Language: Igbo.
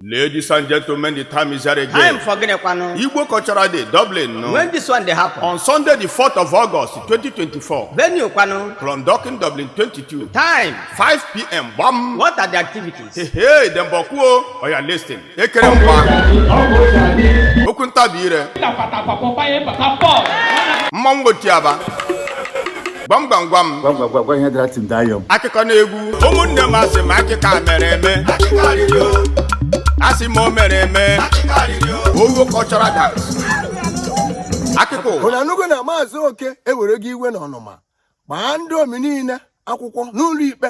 Ladies and gentlemen, the time is here time again. for gịnị kwanụ Igbo Cultural Day, Dublin, no? when this one dey happen on Sunday, the 4th of August, 2024, venue kwanụ from Docking Dublin 22, time 5 p.m. Bam! what are the activities Hey, hey, them bokuo, or you're listening. Ekere mgba, okwu ntabi ire, mmanwụ otiaba, gwam gwam gwam Gwa m ihe dara tim daa yọm. akụkọ na egwu ụmụnne m asị m akịka mere eme asị m o mere eme ogo cultural dance akụkọ Ụnụ anụgo na maazị oke ewere gị iwe na ọnụma gbaa ndị omi niile akwụkwọ n'ụlọ ikpe